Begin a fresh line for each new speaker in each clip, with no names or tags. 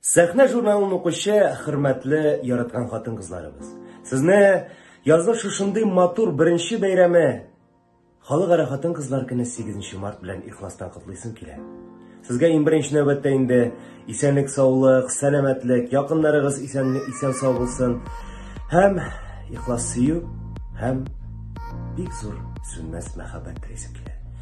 Сәхнә журналын укучы хөрмәтле яраткан хатын-кызларыбыз. Сезне язның шушындый матур беренче бәйрәме Халыкара хатын-кызлар көне 8 март белән ихластан котлыйсым килә. Сезгә иң беренче нәүбәттә инде исәнлек, саулык, сәламәтлек, якыннарыгыз исән исән сау булсын һәм ихлас сөю һәм бик зур сүнмәс мәхәббәт телисем килә.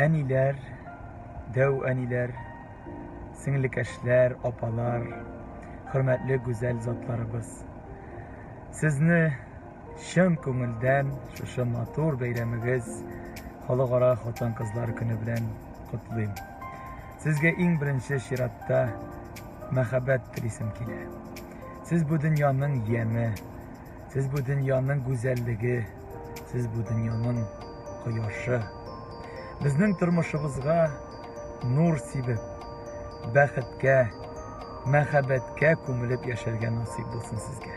Әниләр, дәү әниләр, сеңлекәшләр, апалар, хөрмәтле гүзәл затларыбыз. Сезне чын күңелдән шушы матур бәйрәмегез Халыкара хатын-кызлар көне белән котлыйм. Сезгә иң беренче чиратта мәхәббәт телисем килә. Сез бу дөньяның яме, Сез бу дөньяның гүзәллеге, сез бу дөньяның кояшы. Безнең тормышыбызга нур сибеп, бәхеткә, мәхәббәткә күмелеп яшәргә насыйп булсын сезгә.